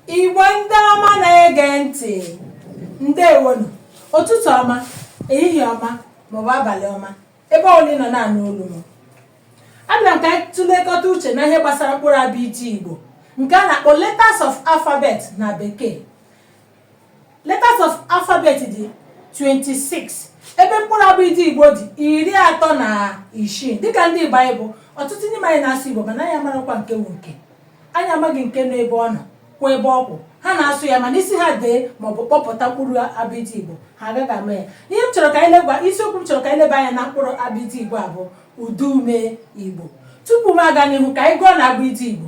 igbo ndị ọma na-ege ntị ndewo nụ ụtụtụ ọma ehihie ọma maọbụ abalị ọma ebe ọbụla ị nọ na-anụ olu m abịara m ka anyị tụlekọta uche na ihe gbasara mkpụrụ abịdị igbo nke a na-akpọ letters of alphabet na bekee letters of alphabet dị 26 ebe mkpụrụ abịdị igbo dị iri atọ na isii dịka ndị igbo anyị bụ ọtụtụ n'ime anyị na-asụ igbo mana anyị amarọkwa nke wụ nke anyị amaghị nke nọ ebe ọ nọ kwụ ebe ọ kwụ ha na-asụ ya mana ị sị ha dee maọbụ kpọpụta mkpụrụ abịdị igbo ha agaghị ama ya ihe m chọrọ ka anyị leba isiokwu m chọrọ ka anyị leba anya na mkpụrụ abịdị igbo a bụ ụdaume igbo tupu m aga n'ihu ka anyị gụọnụ abịdị igbo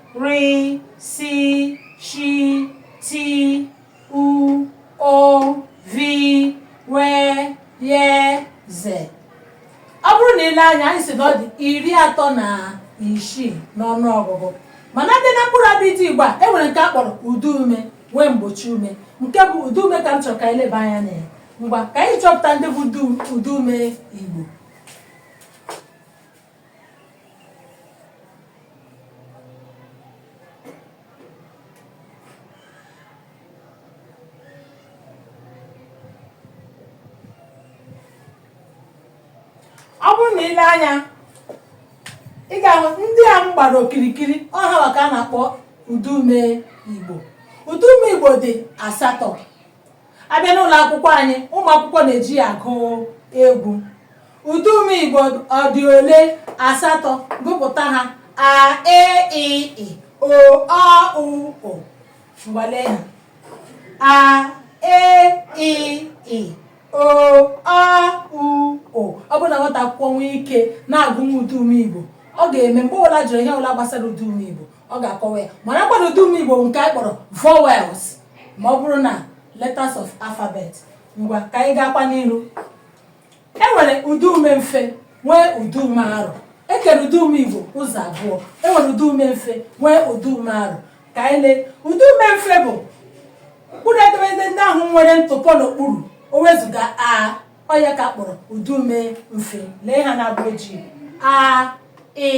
ri si shi ti u ụ vi we ye ze ọ bụrụ na i lee anya anyị sị na ọ dị iri atọ na isii n'ọnụ ọgụgụ mana abịa na mkpụrụ abịdị igbo a enwere nke a kpọrọ ụdaume nwee mgbochiume nke bụ ụdaume ka m chọrọ ka anyị leba anya na ya ngwa ka anyị chọpụta ndị bụ ụdaume igbo ọ bụrụ na i lee anya ị ga-ahụ ndị a m gbara okirikiri ọ ha nwa ka a na-akpọ ụdaume igbo ụdaume igbo dị asatọ abịa n'ụlọ akwụkwọ anyị ụmụ akwụkwọ na-eji ya agụ egwu ụdaume igbo ọ dị ole asatọ gụpụta ha a e i ị o ọ u ụ ngwa lee ha a e i ị o ọ u ụ ọ bụrụ na nwata akwụkwọ nwee ike na-agụnwu ụdaume igbo ọ ga-eme mgbe ọbụla a jụrụ ihe ọbụla gbasara ụdaume igbo ọ ga-akọwa ya marakwa na ụdaume igbo nke anyị kpọrọ vowels ma ọ bụrụ na letters of alphabet ngwa ka anyị gaakwa n'iru e nwere ụdaume mfe nwee ụdaume arọ e kere ụdaume igbo ụzọ abụọ e nwere ụdaume mfe nwee ụdaume arọ ka anyị lee ụdaume mfe bụ mkpụrụ edemede ndị ahụ nwere ntụpọ n'okpuru e wezụga a ọ ya ka a kpọrọ ụdaume mfe lee ha n'ụgbọ ojii a ị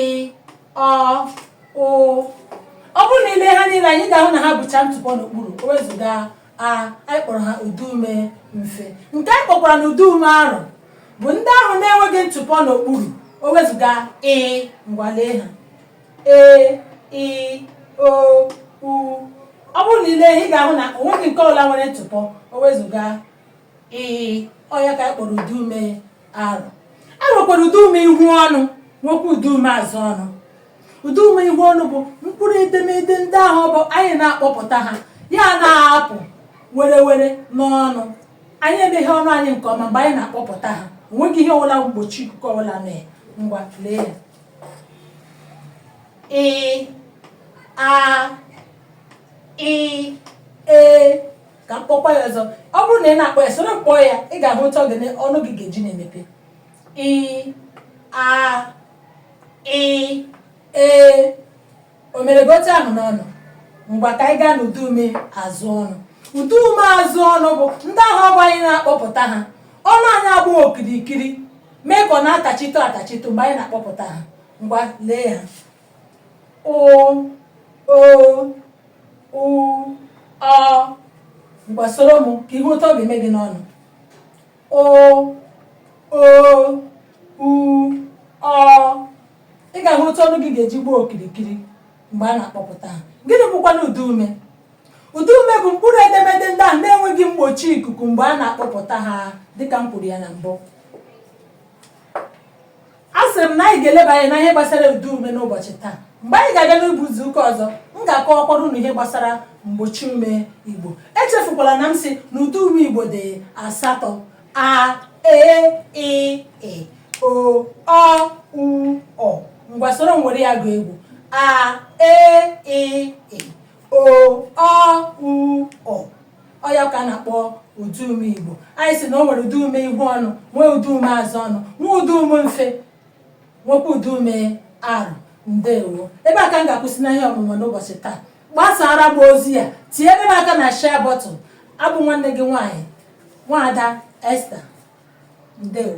ọ ụ ọ bụrụ na i lee ha niile anya ị ga-ahụ na ha bucha ntụpọ n'okpuru o wezụga a anyị kpọrọ ha ụdaume mfe nke anyị kpọkwaranụ ụdaume arọ bụ ndị ahụ na-enweghị ntụpọ n'okpuru o wezụga i ngwa lee ha e i o u ọ bụrụ na i lee ị ga-ahụ na o nweghị nke ọbụla nwere ntụpọ o wezụga i ọ ya ka anyị kpọrọ ụdaume arọ e nwekwara ụdaume ihu ọnụ nwekwa ụdaume azụ ọnụ ụdaume ihu ọnụ bụ mkpụrụ edemede ndị ahụ bụ anyị na-akpọpụta ha ya na-apụ werewere n'ọnụ anyị emeghee ọnụ anyị nke ọma mgbe anyị na-akpọpụta ha o nweghị ihe ọbụla mgbochi ikuku ọbụla mee ngwa lee ya ị a i e ka m kpọkwa ya ọzọ ọ bụrụ na a na-akpọ ya soro m kpọọ ya ị ga-ahụ otu ọ gịnị ọnụ gị ga-eji na-emepe ị a i e o mere gị otu ahụ n'ọnụ ngwa ka anyị gaa n'ụdaume azụ ọnụ ụdaume azụ ọnụ bụ ndị ahụ ọ ga-abụ anyị na-akpọpụta ha ọnụ anyị agbaa okirikiri mee ka ọ na-atachitụ atachitụ mgbe anyị na-akpọpụta ha ngwa lee ha ụ o u ọ ngwa soro m ka ị hụ otu ọ ga-eme gị n'ọnụ ụ o u ọ ị ga-ahụ otu ọnụ gị ga-eji gbaa okirikiri mgbe a na-akpọpụta ha gịnị bụkwanụ ụdaume ụdaume bụ mkpụrụ edemede ndị ahụ na-enweghị mgbochi ikuku mgbe a na-akpọpụta ha dịka m kwuru ya na mbụ asịrị m na anyị ga-eleba anya na ihe gbasara ụdaume n'ụbọchị taa mgbe anyị ga-abịa n'ụbọ izu ụka ọzọ m ga-akọwakwara unu ihe gbasara mgbochiume igbo echefukwala na m sị na ụdaume igbo dị asatọ a e i ị o ọ u ụ ngwa soro m were ya gụọ egwu a e i ị o ọ u ụ ọ ya ka a na-akpọ ụdaume igbo anyị sị na o nwere ụdaume ihu ọnụ nwee ụdaume azụ ọnụ nwee ụdaume mfe nwekwa ụdaume arọ ndewo ebe a ka m ga-akwụsị na ihe ọmụmụ n'ụbọchị taa gbasaara m ozi a tinyere m aka na share button abụ m nwanne gị nwaanyị nwaada Esther ndewo